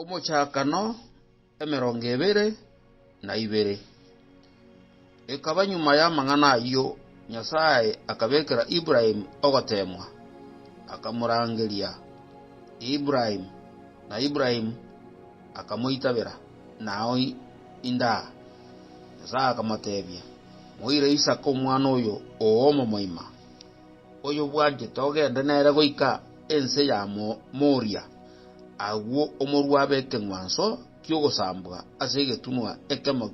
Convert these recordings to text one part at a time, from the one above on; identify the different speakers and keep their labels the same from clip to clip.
Speaker 1: Omochakano emerongo ebere na ibere. Ekaba nyuma y'amang'ana ayio Nyasae akabekera Ibrahim ogoteemwa, akamorangeria, Ibrahim! Na Ibrahim akamoitabera, Nao indaa. Nyasae akamoteebia, Moire Isaka omwana oyo oo omomoima. oyobwanchete ogende nere goika ense ya Moria, agwo omorua abe ekeng'wanso ki'ogosambwa ase egetunwa ekemo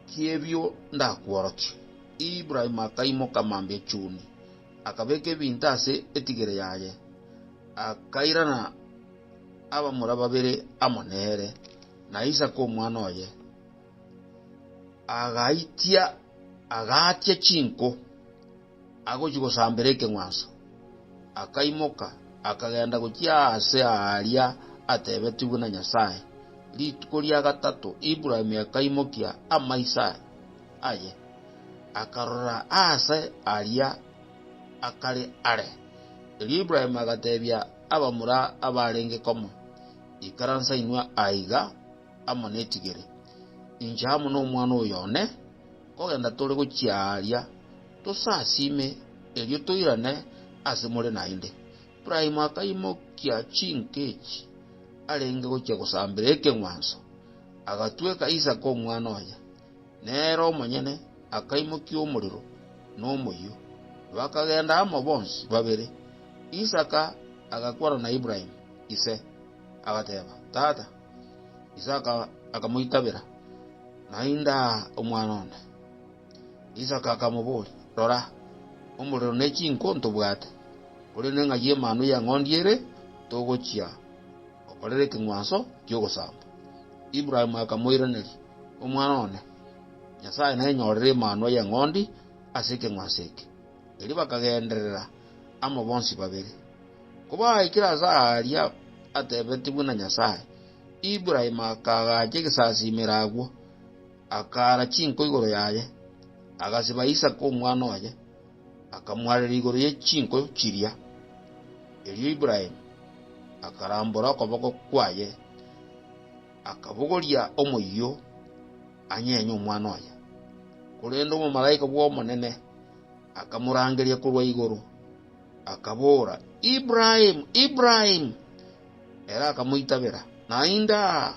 Speaker 1: ki'ebio ndakworokie. Ibrahimu akaimoka mambia chuni, akabeka ebinto ase etigere yaye, akairana abamura babere amo nere, na Isaka omwana oye. Agaitia, agaatia chinko, agochia gosambera ekeng'wanso, akaimoka, akagenda gochia aase aaria ateebetigwe na Nyasae. Rituko ria gatato Ibrahimu akaimokia amaiso aye, akarora aase aria akare are. Erio Ibrahimu agateebia abamura abaarenge komo, Ikaransa inwe aiga, amo netigere, inche amo nomwana oyo one, kogenda tore gochia aaria, tosasiime, erio toirane ase more naende. Ibrahimu akaimokia chinka echi arenge gochia gosambera ekeng'wanso, agatweka Isaka omwana oye, nere omonyene akaimokia omorero nomoyio, bakagenda amo bonsi babere. Isaka agakwana na Ibrahimu ise, agateba, Tata. Isaka akamoitabera, Naende aa omwana one. Isaka akamoboria, Rora, omorero ne chinko ntobwate, korende ng'a y'Emanwa y'Eng'ondi ere togochia gokorera ekeng'wanso ki'ogosamba. Ibrahimu akamoiraneria, Omwana one, Nyasae nainyorere Emanwa y'Eng'ondi ase ekeng'wanso eke. Erio bakagenderera amo bonsi babere. Kobaikire ase aaria atebetigwe na Nyasae, Ibrahimu akaagacha egesasiimero agwo, akaara chinko igoro yaye, agasiba Isaka omwana oye, akamwarera igoro ye chinko chiria. Erio Ibrahimu akarambora okoboko kwaye, akabogoria omoyio. anyenye omwana oye. Korende omomalaika bw'Omonene akamorangeria korwa igoro, akabora, Ibrahimu, Ibrahimu! Ere akamoitabera, Naende aa.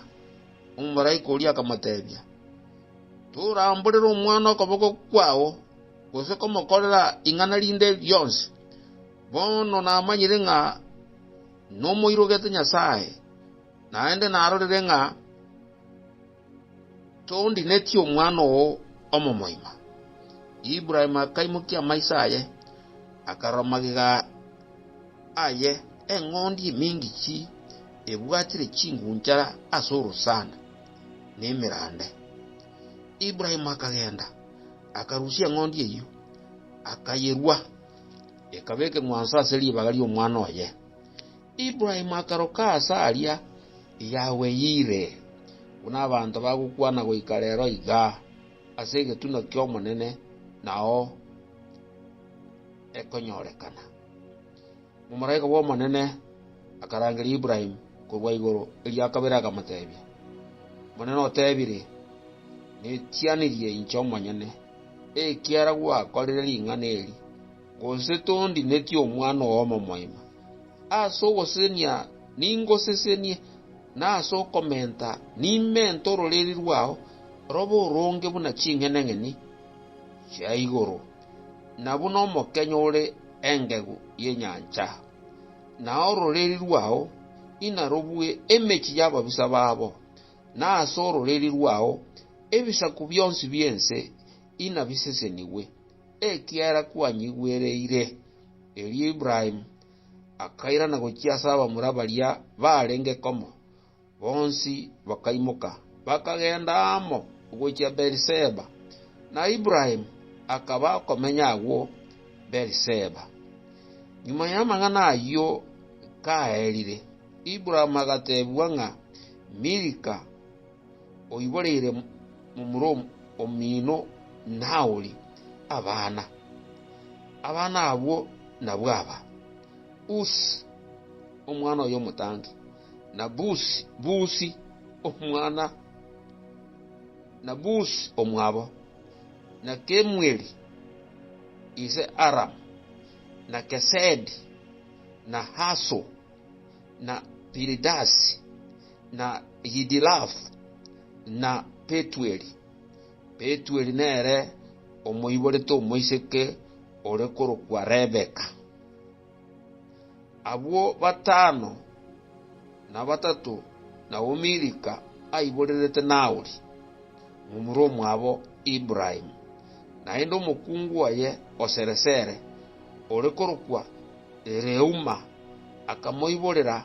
Speaker 1: Omomalaika oria akamotebia, Toramborere omwana okoboko kwao, gose komokorera ing'ana rinde rionsi. Bono namanyire ng'a nomoirogete Nyasae, naende narorire ng'a Toondinetie omwana oo omomoima. Ibrahimu akaimokia amaiso aye, akarora magega aye, eng'ondi eminge chi ebwatire chingunchara ase orosana, na emerande. Ibrahimu akagenda, akarusia eng'ondi eyio, akayerua, ekaba ekeng'wanso ase ribaga ri'omwana oye. Ibrahimu akaroka aase aria Yahweh Yire, buna abanto bagokwana goika rero iga, ase egetunwa ki'Omonene nao ekonyorekana. Omomalaika bw'Omonene akarangeria Ibrahimu korwa igoro erio akabere akamotebia, Omonene otebire, Netianirie inche omonyene, ekiagera gwakorire ring'ana eri. Gose tondinetie omwana oo omomoima, ase ogosesenia ningosesenie, na ase okomenta nimente ororeria rwao robe oronge buna ching'enang'eni chia igoro, na buna omokenyo ore engegu y'enyancha, na ororeria rwao inarobue emechie y'ababisa babo, na ase ororeria rwao ebisaku bionsi bi'ense inabisesenigwe. Ekiagera kwanyigwereire. Erio Ibrahimu akairana gochia ase abamura baria baarenge komo, bonsi bakaimoka, bakagenda amo gochia Beeri-Seba, na Ibrahimu akaba okomenya agwo Beeri-Seba. Nyuma y'amang'ana ayio kaerire, Ibrahimu agateebigwa ng'a Milika. oiboreire momura omino Nahori abana. Abana abwo nabwo aba, Usi, omwana oye omotangi, na Busi, Busi, omwana, na Busi omwabo, na Kemueli, ise Aramu, na Kesedi, na Haso, na Piridasi, na Yidilafu, na Petueli. Petueli nere omoiborete omoiseke ore korokwa Rebeka. Abwo batano na batato nabwo Milika aiborerete Nahori, momura omwabo Ibrahimu, naende omokungu oye o sere-sere, ore korokwa Reuma, akamoiborera